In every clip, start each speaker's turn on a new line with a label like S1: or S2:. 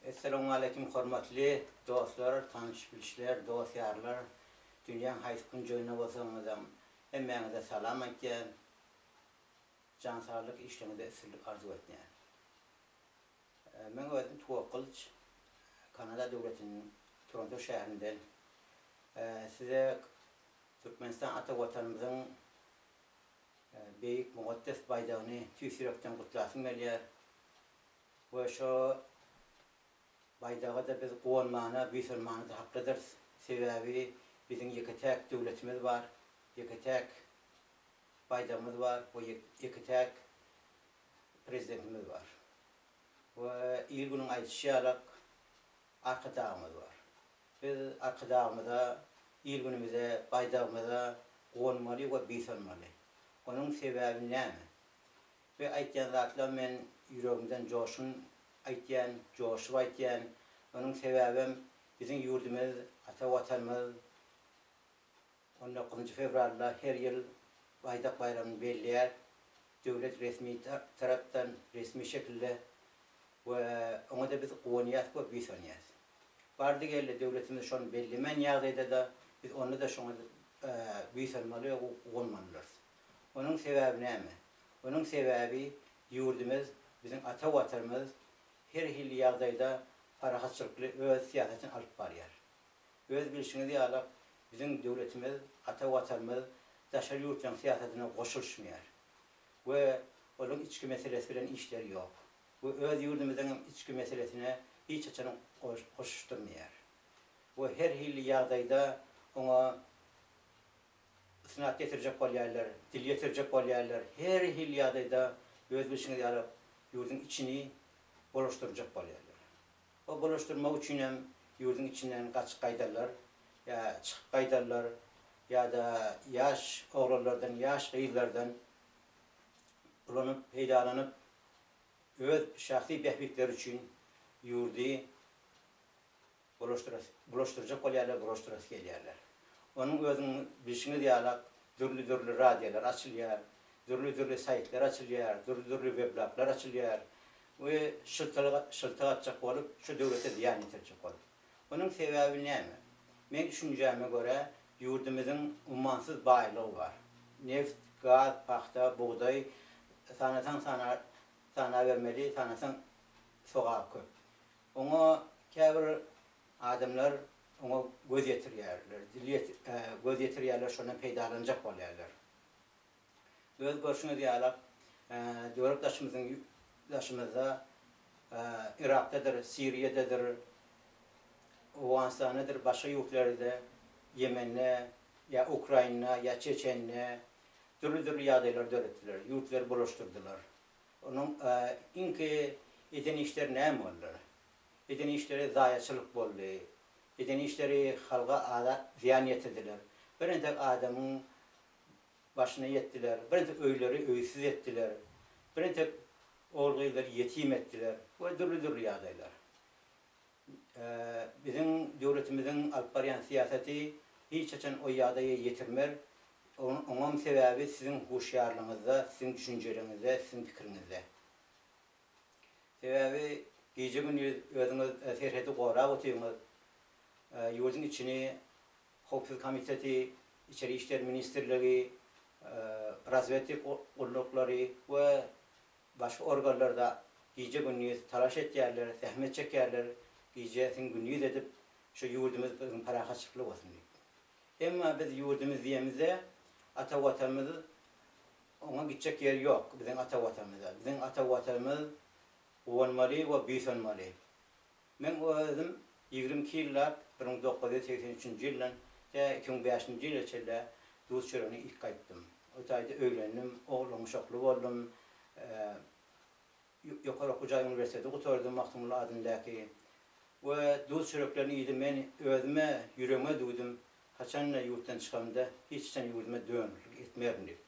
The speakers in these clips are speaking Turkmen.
S1: Essalamualeýkum hormatly dostlar, tanyş-bilişler, dost-ýarlar, dünýäň haýsy künjeginde bolsaňyzam hemmäňize salam aýtýan, jan saglyk, işleriňizde üstünlik arzuw etýän. Men özüm Tuwak Gylyç, Kanada döwletiniň Toronto şäherinden. Size Türkmenistan ata Watanymyzyň beýik mugaddes baýdagyny tüýs ýürekden gutlasym gelýär. we şo baýdaga-da biz guwanmana, buýsanmana-da haklydyrys, sebäbi biziň ýeke-täk döwletimiz bar, ýeke-täk baýdagymyz bar we ýeke-täk Prezidentimiz bar we il-günüň aýdyşy ýalak Arkadagymyz bar. Biz Arkadagymyza, il-günümize, baýdagymyza guwanmaly we buýsanmaly. Onuň sebäbi näme? Bu aýtýan zatlam men ýüregimden joşgun aýtýan, joşup aýtýan. Onuň sebäbem biziň ýurdumyz, ata Watanymyz on dokuzynjy fewralda her ýyl Baýdak baýramyny belleýär. Döwlet resmi tarapdan, resmi şekilde we oňa-da biz guwanýas we buýsanýas. Bardy-geldi döwletimiz şony bellemän ýagdaýda-da biz onda-da şoňa buýsanmaly we guwanmalydyrys. Onuň sebäbi näme? Onuň sebäbi ýurdumyz, biziň ata Watanymyz her hili ýagdaýda parahatçylykly öz syýasatyny alyp barýar. Öz bilşiňiz ýalak, biziň döwletimiz, ata Watanymyz daşary ýurtlaryň syýasatyna goşulyşmaýar we olaryň içki meselesi bilen işleri ýok we öz ýurdumyzyň hem içki meselesine hiç haçan goşuşdyrmaýar we her hili ýagdaýda oňa Ysnat getirjek bolýarlar, dil getirjek bolýarlar, her hili ýagdaýda öz bilşiňiz ýaly ýurduň içini bulaşdyrjak bolýarlar. O bulaşdyrmak üçin hem ýurduň içinden gaçyp gaýdarlar, ýa çykyp gaýdarlar, ýa-da ýaş oglanlardan, ýaş gyzlardan ulanyp, peýdalanyp, öz şahsy bähbitleri üçin ýurdy Bulaşdyrjak bolýarlar, bulaşdyrasy gelýärler. Onuň özüniň bilşiňiz ýalak dürli-dürli radiolar açylýar, dürli-dürli saýtlar açylýar, dürli-dürli weblaklar açylýar we şyltylyk atjak bolup, şu döwlete zyýan ýetirjek bolup. Onuň sebäbi näme? Meň düşünjäme görä, ýurdumyzyň ummansyz baýlygy bar. Neft, gaz, pagta, bugdaý, sanasaň sanabermeli, sanasaň sogap köp. Oňa käbir adamlar oňa göz ýetirýärler, dil göz ýetirýärler, şondan peýdalanjak bolýarlar. Öz görşüňiz ýalak, döwlet daşymyzyň daşymyzda Yrakdadyr, Siriýadadyr, Owganystandadyr, başga ýurtlarda, Ýemende ýa Ukrainada ýa Çeçende dürli-dürli ýagdaýlar döretdiler, ýurtlary bulaşdyrdylar. Onuň iňki eden işleri näme boldular? Eden işleri zaýaçylyk boldy. Eden işleri halga aza zyýan ýetirdiler. Bir entek adamyň başyna ýetdiler. Bir entek öýleri öýsüz etdiler. Bir entek ogul-gyzlary ýetim etdiler we dürli-dürli ýagdaýlar. Biziň döwletimiziň alyp barýan syýasaty hiç haçan o ýagdaýa ýetirmer. Oňam sebäbi siziň huşýarlygyňyzda, siziň düşünjeligiňizde, siziň pikiriňizde. Sebäbi gije-gündiz özüňiz serhedi gorap otyrňyz, ýurduň içini Howpsuzlyk komiteti, Içeri işler ministrligi, razwedki gulluklary we Başga organlarda gije-gündiz talaş etýärler, zähmet çekýärler, gijesin gündiz edip, şu ýurdumyz biziň parahatçylykly bolsun diýip. Emma biz ýurdumyz diýemizde, ata Watanymyz, oňa gitjek ýer ýok biziň ata Watanymyza. Biziň ata Watanymyz guwanmaly we buýsanmaly. Meň özüm ýigrimi iki ýyllap, bir müň dokuz ýüz segsen üçünji ýyldan tä iki müň bäşinji ýyla çenli duz çöregine ilki gaýtdym. O taýda öýlendim, oglanuşakly boldum. Ýokary okuw jaý uniwersiteti gutardym, Magtymguly adyndaky. We duz çöreklerini iýdim. Men özüme, ýüregime düwdüm, haçanda ýurtdan çykamda hiç haçan ýurduma dönüklik etmerin diýip.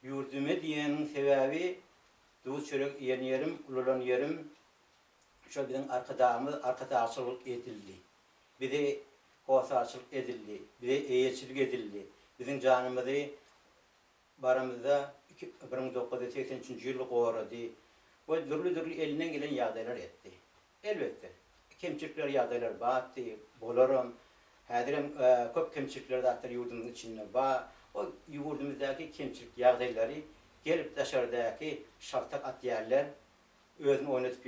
S1: Ýurduma diýeniň sebäbi duz çörek iýen ýerim, ulalan ýerim, Şol biziň Arkadagymyz arkadagçylyk edildi. Bize hossarçylyk edildi. Bize eýeçilik edildi. Biziň janymyzy baramyzda iki bir müň dokuz ýüz segsen üçünji ýyl gorady we dürli-dürli elinden gelen ýagdaýlar etdi. Elbetde, kemçilikler, ýagdaýlar batdy, bolaram. Häzirem köp kemçilikler zatlar ýurdumyzyň içinde bar. O ýurdumyzdaky kemçilik ýagdaýlary gelip daşardaky şaltak atýarlar. özüni oýnadyp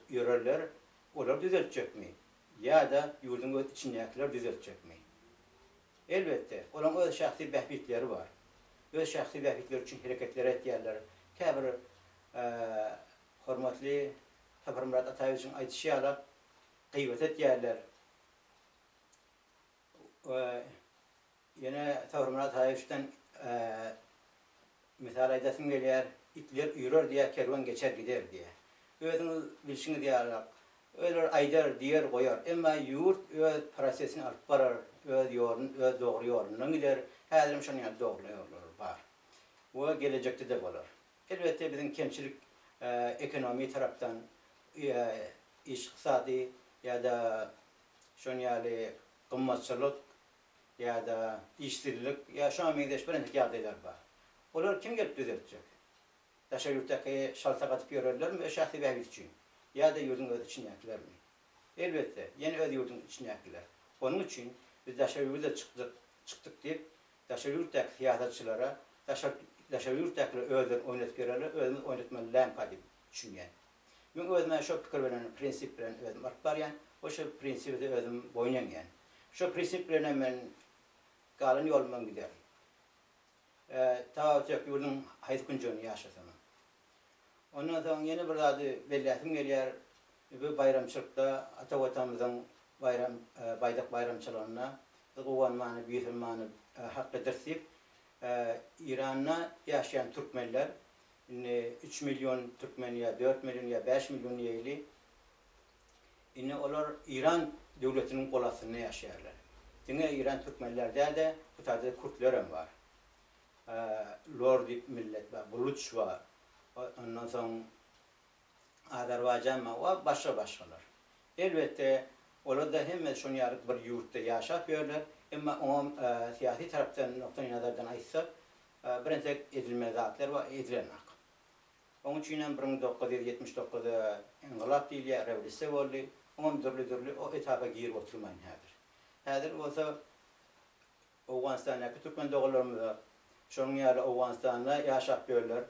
S1: ýörerler, olar düzeltjekmi ýa-da ýurduň öz içindäkiler düzeltjekmi? Elbetde, olaryň öz şahsy bähbitleri bar. Öz şahsy bähbitleri üçin hereketler etýärler. Käbir hormatly Saparmyrat Ataýewiçiň aýdyşy ýaly gyýbat etýärler. Ýene Sabrymyrat Haýyşdan mysal aýdasym gelýär, Itler üýrer diýer, kerwen geçer gider diýýär. Özüňiz bilşiňiz ýalyrak, öler aýdar, diýer, goýar. Emma ýurt öz prosesini alyp barar, öz ýoluny, öz dogry ýolundan gider. Häzirem şonuň ýaly dogry ýollar bar we gelejekde-de bolar. Elbetde, biziň kemçilik ekonomiýa tarapdan, iş-yksady ýa-da şonuň ýaly gymmatçylyk ýa-da işsizlik ýa şoňa meňzeş birentek ýagdaýlar bar. Olary kim gelip düzeltjek? Daşary ýurtdaky şalta gatyp ýörerlermi öz şahsy bähbit üçin? Ýa-da ýurduň öz içindäkilermi? Elbetde, ýene öz ýurduň içindäkiler. Onuň üçin biz daşary ýurda çykdyk, çykdyk diýip, daşary ýurtdaky syýasatçylara, daşary ýurtdakylar özlerini oýnadyp ýörerler, özümiz oýnatmaly lämpa diýip düşünýän. Men özüme şo pikir bilen, prinsip bilen özüm alyp barýan we şo prinsibe-de özüm boýun eňýän. Şo prinsip bilenem men galan ýolumdan giderin. Tababçylyk ýurduň haýsy künjeginde ýaşasamam. Ondan soň ýene bir zady belläsim gelýär, bu baýramçylykda, ata Watanymyzyň baýram, Baýdak baýramçylygynda biz Guwan Many, Büýüsün Many, Hakky Dirs diýip, Eýranda ýaşaýan türkmenler Indi üç million türkmen ýa dört million ýa bäş million diýeýli. Indi olar Iran döwletiniň gol astynda ýaşaýarlar. Diňe Iran türkmenler däl-de, bu tarda kürtler hem bar. Lor diýip millet bar, buluç bar. Ondan soň Azerbaýjan bar we başga-başgalar. Elbetde, olar-da hemmesi şonuň ýaly bir ýurtda ýaşap ýörler, emma oňa syýasy tarapdan, nukdaýnazardan aýtsak, bir entek edilmeli zatlar bar, edilenok. Oň üçinem bir müň dokuz ýüz ýetmiş dokuzda yngylap diýilýär, rewolýusiýa boldy, oňam dürli-dürli o etapa girip oturmaýyn häzir. Häzir bolsa Owganystandaky türkmen doganlarymyza, şonuň ýaly Owganystanda ýaşap ýörler,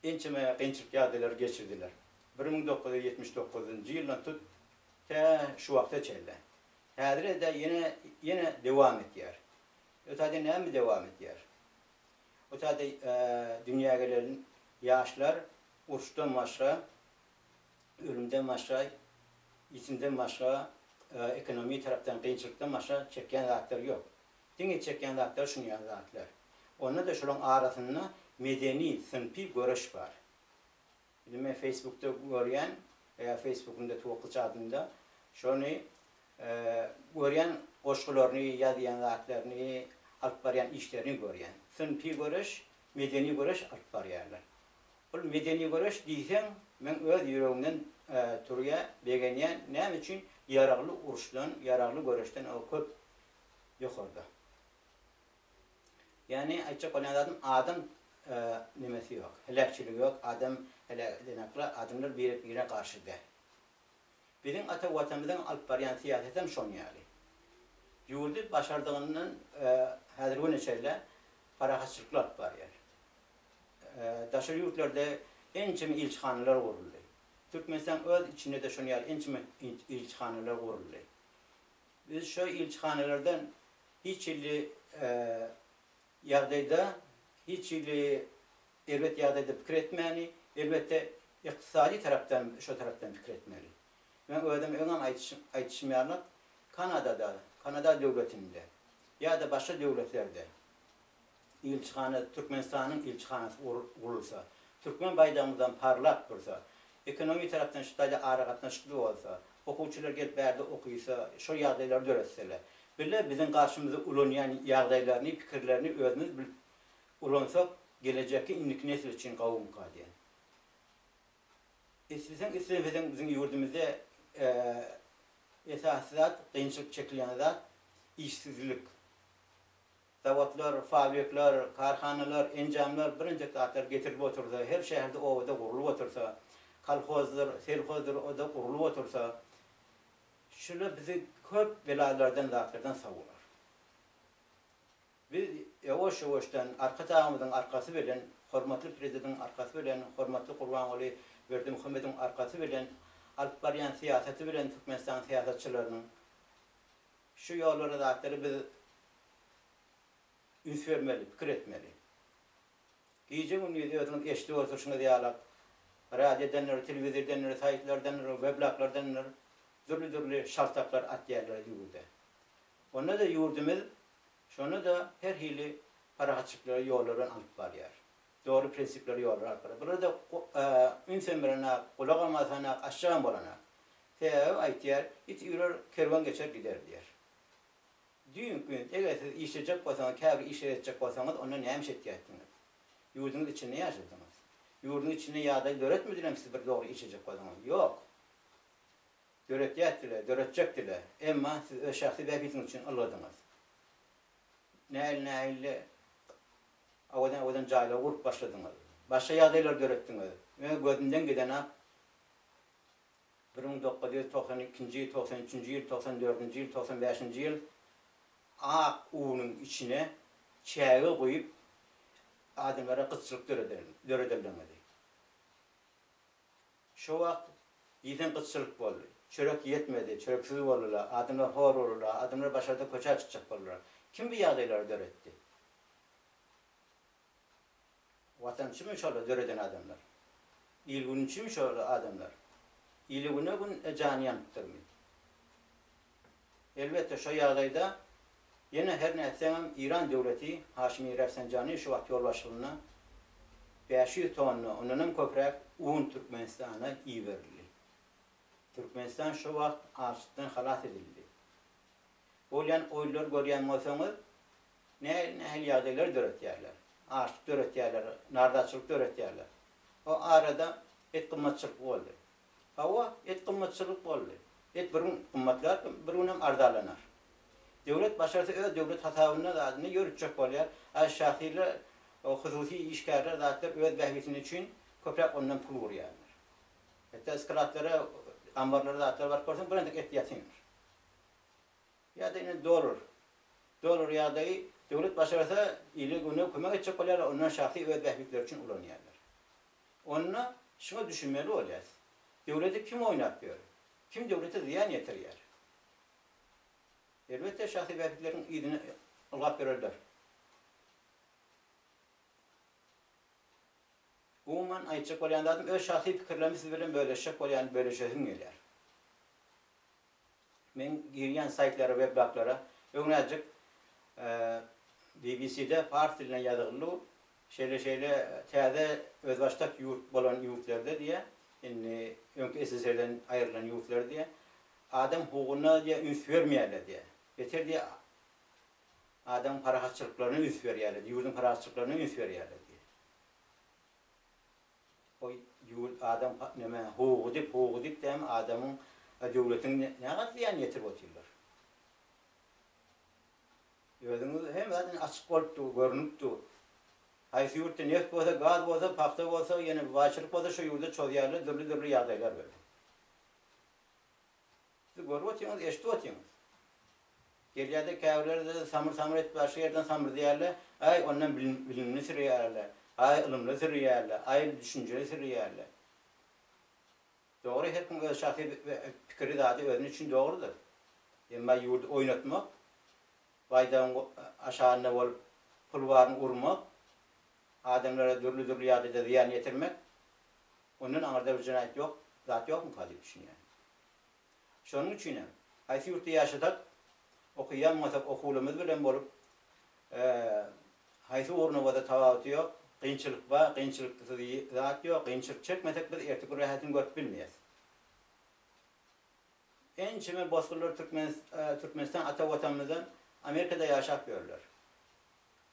S1: ençeme kynçylyk ýagdaýlary geçirdiler. Bir müň dokuz ýüz ýetmiş dokuzynjy ýyldan tut, tä şu wagta çenli. Häzire-de ýene, ýene dowam edýär. Bu taýda näme dowam edýär? Bu taýda dünýä gelen ýaşlar uruşdan başga, ölümden başga, ýitimden başga, ekonomi tarapdan kynçylykdan başga çekýän zatlary ýok. Diňe çekýän zatlary şuny ýaly zatlar. Onda-da şolaryň arasynda medeni, synpy göreş bar. Indi men feýsbukda görýän ýa feýsbukyň deti wokly çadynda şony görýän goşgularyny ýazýan zatlaryny alyp barýan işlerini görýän. Synpy göreş, medeni göreş alyp barýarlar. Bul medeni göreş diýseň meň öz ýüregimden turýa begenýän näme üçin ýaragly uruşdan ýaragly göreşden o köp ýokarda. Ýagny aýtjak bolýan zadym adam nemesi ýok, heläkçiligi ýok, adam heläk edenakla adamlar birek-birine garşy däl. Biziň ata Watanymyzyň alyp barýan syýasaty hem şon ýaly. Ýurdy başardygyndan häzirgi güne çenli parahatçylykly alyp barýar. Daşary ýurtlarda ençeme ilçihanalar guruldy. Türkmenistanyň öz içinde-de şon ýaly ençeme ilçihanalar guruldy. Biz şu ilçihanalardan hiç hili ýagdaýda, hiç hili erbet ýagdaýda pikir etmäni, elbetde, ykdysady tarapdan, şo tarapdan pikir etmeli. Meň özüm öňem aýdyşym ýaly, Kanadada, Kanada döwletinde ýa-da başga döwletlerde Ilçihana Türkmenistanyň ilçihanasy gurulsa, türkmen baýdagymyzam parlap dursa, ekonomi tarapdan şu taýda aragatnaşykly bolsa, okuwçylar gelip bärde okysa, şol ýagdaýlary döretseler. Bile biziň garşymyza ulanýan ýagdaýlaryny, pikirlerini özümiz bilip ulansak, gelejekki indiki nesil üçin gawumyka diýen. Isleseň islemeseň biziň ýurdumyzda esasy zat, kynçylyk çekilýän zat işsizlik. Zawodlar, fabrikler, karhanalar, enjamlar bilinjek zatlar getirilip otursa, her şäherde, obada gurlup otursa, kolhozdyr, selhozdyr, o-da gurlup otursa, şular bizi köp belalardan, zatlardan sawlar. Biz ýowaş-ýowaşdan arka tagymyzyň arkasy bilen, hormatly Prezidentiň arkasy bilen, hormatly Gurbanguly Berdimuhamediň arkasy bilen, alyp barýan syýasaty bilen Türkmenistanyň syýasatçylarynyň, Şu ýollara zatlara biz üns bermeli, pikir etmeli. Gije-gündiz özüňiz eşidip oturşyňyz ýalak, radiodandyr, telewizordandyr, saýtlardandyr, weblaglardandyr dürli-dürli şaltaklar atýarlar ýurda. Onda-da ýurdumyz şonda-da her hili parahatçylyklary ýollardan alyp barýar. Dogry prinsipleri ýoluna alyp barýar. Bularda ünsem berenak, gulagam asanak, aşjagam bolanak. Sebäbi aýtýar, It üýrer, kerwen geçer gider diýýär. Düýn gün eger siz işlejek bolsaňyz, käbir işleri etjek bolsaňyz, onda näme iş etýärdiňiz? Ýurduňyz içinde ýaşadyňyz. Ýurduň içinde ýagdaý döretmedilermi siz bir dogry işlejek bolsaňyz? Ýok. Döretýärdiler, döretjekdiler. Emma siz öz şahsy bähbidiňiz üçin ylgadyňyz. nähili-nähili awadan-awadan jaýlar gurup başladyňyz, başga ýagdaýlar döretdiňiz. Öňe gözümden gideni-ak, bir müň dokuz ýüz togsan ikinji, togsan üçünji ýyl, togsan dördünji ýyl, togsan bäşinji ýyl ak unuň içine çäge guýup, adamlara gytçylyk döredenligiňizi. Şo wagt diýseň gytçylyk boldy. Çörek ýetmedi, çöreksiz boldular, adamlar hor boldular, adamlar başarda köçä çykjak boldular. Kim bu ýagdaýlary döretdi? Watançymy şolar döreden adamlar? Il-günçimi şolar adamlar? Ile güne-gün jany ýanypdyrmy? Elbetde şo ýagdaýda ýene her nätseňem Iran döwleti Haşimi Rafsanjani şu wagt ýolbaşçylygynda bäş ýüz tonna, ondanam köpräk un Türkmenistana iberildi. Türkmenistan şo wagt açlykdan halas edildi. Bolýan oýlary görýän bolsaňyz, nähili nähili ýagdaýlar döretýärler. Açlyk döretýärler, nardaçylyk döretýärler. O arada et gymmatçylykly boldy. Hawa, et gymmatçylyk boldy. Et bir gün gymmatlar, bir günem arzalanar. Döwlet başarsa öz döwlet hasabynda zady ne ýöritjek bolýar. A şahyrlar, o hususy işgärler zatlar öz bähbitini üçin köpräk ondan pul gurýarlar. Hetta skladlara, ambarlara zatlara baryp görseň bir entek et ýatyndyr. Ýa-da indi dollar. Dollar ýagdaýy döwlet başarsa ile güne kömek etjek bolýarlar ondan şahsy öz bähbitleri üçin ulanýarlar. Onda şuňa düşünmeli bolýas, döwleti kim oýnap ýör, kim döwlete zyýan ýetirýär. Elbetde şahsy bähbitleriň yzyna ylgap ýörerler. Umuman aýtjak bolýan zadym öz şahsy pikirlerimi siz bilen bölüşjek bolýan, bölüşesim gelýär. Men girýän saýtlara, weblaklara öňräjik BBC-de pars dilinde ýazyldy bu. Şeýle-şeýle täze özbaşdak ýurt bolan ýurtlarda diýýä, indi öňki SSR-den aýrylan ýurtlar diýýä, adam hukugyna diýýä üns bermeýärler diýýä. Beter diýýä adamyň parahatçylyklaryna üns berýärler, ýurduň parahatçylyklaryna üns berýärler diýýä. Goý, jul adam näme, howugydyp, howugydyp dämi adamyň we döwletiň nähak zyýan ýetirip otyrlar. Özüňiz hemme zat indi açyk bolup dur, görnüp dur. Haýsy ýurtda neft bolsa, gaz bolsa, pagta bolsa, ýene baýçylyk bolsa şo ýurda çozýarlar, dürli-dürli ýagdaýlar bar. Siz görüp otyňyz, eşidip otyňyz. Gelýärde käbirleri samyr-samyr edip başga ýerden samyrdýarlar, aý ondan bilimli sürýärler, aý ylymly sürýärler, aý düşünjeli sürýärler. Dogry her kim öz şahsy pikiri zady özüniň üçin dogrudyr. Emma ýurdy oýnatmak, baýdagyň aşagynda bolup pul baryny urmak, adamlara dürli-dürli ýagdaýda zyýan ýetirmek, ondan aňyrda bir jenaýat ýok, zat ýokmyka diýip düşünýän. Şonuň üçin hem, haýsy ýurtda ýaşasak, okaýanmasak okuwlymyz bilen bolup, haýsy ugruny bolsa tapawuty ýok, kynçylyk bar, kynçylyksyz zat ýok, kynçylyk çekmesek biz erteki gün rahatyny görüp bilmeýäs. Ençeme bosgunlar Türkmenistan ata Watanymyzdan Amerikada ýaşap ýörler.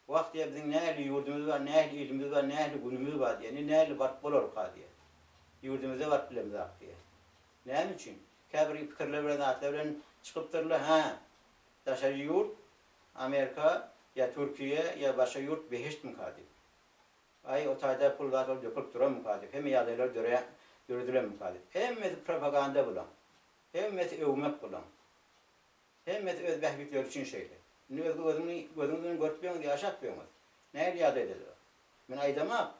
S1: Wah diýýär, biziň nähili ýurdumyz bar, nähili ilimiz bar, nähili günümiz bar diýýär. Indi nähili baryp bolarka diýýär. Ýurdumyzda baryp bilemizok diýýär. Näme üçin? Käbir pikirler bilen zatlar bilen çykypdyrlar, hä, daşary ýurt, Amerika ýa Türkiýe ýa başga ýurt behiştmika diýip. Aý, o taýda pul zat ol dökülip duranmyka diýip, hemme ýagdaýlar dörä döredilenmika diýip. Hemmesi propaganda bulaň. Hemmesi öwmek bulaň. Hemmesi öz bähbitleri üçin şeýle. Indi özge gözüňi, gözüňiz bilen görüp ýöňüz, ýaşap ýöňüz. Nähili ýagdaýdadyr? Men aýdamok,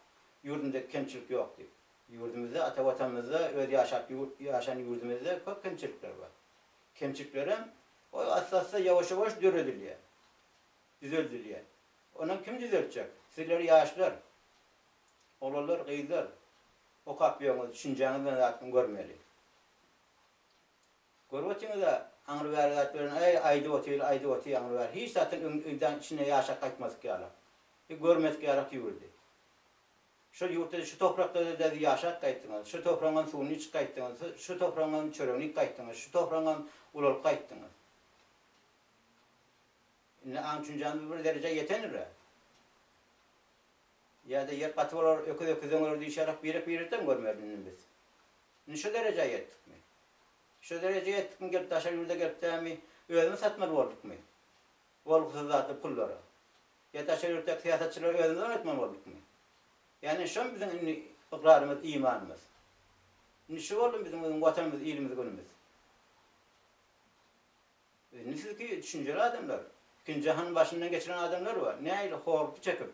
S1: ýurdumda kemçilik ýok diýip. Ýurdumyzda, ata Watanymyzda, öz ýaşap ýaşan ýurdumyzda köp kemçilikler bar. Kemçiliklerem goý asla-asla ýawaş-ýawaş döredilýär, düzeldilýär. Onam kim düzeltjek? Sizler ýaşlar, oglanlar, gyzlar okap ýöňüz, düşünjäňiz bilen zatlaryň görmeli. Görüp otyňyz-a, aňry bäri zat bilen äý, aýdyp otyr, aýdyp otyr aňry bäri. Hiç zatyň öň öýdäň içine ýaşap gaýtmadyk ýalak. Bi görmedik ýalak ýüwürdi. Şol ýurtda-da, şu topraklarda-da bi ýaşap gaýtdyňyz. Şu topragyňam suwuny içip gaýtdyňyz, su şu topragyňam çöregini iýip gaýtdyňyz, şu topragyňam ulalyp gaýtdyňyz. Indi aň-tüşünjämiz bir derejä ýetendir-ä. Ýa-da ýer gaty bolar, öküz öküzden öler diýşerek birek-birekden görmeris indi biz. Indi şu derejä ýetdikmi? Şu derejä ýetdikmi gelip daşary ýurda gelip dämi özümiz satmaly boldukmy? Bolgusyz zatly pullary. Ýa daşary ýurtdaky syýasatçylara özümiz oýnatmaly boldukmy? Ýani şomy biziň indi ykrarymyz, imanymyz? Indi şu boldumy biziň Watanymyz, ilimiz, günümiz? Nusiki düşünjeli adamlar, ikinji jahanyň başyndan geçiren adamlar bar, nähili horlukdy çekip.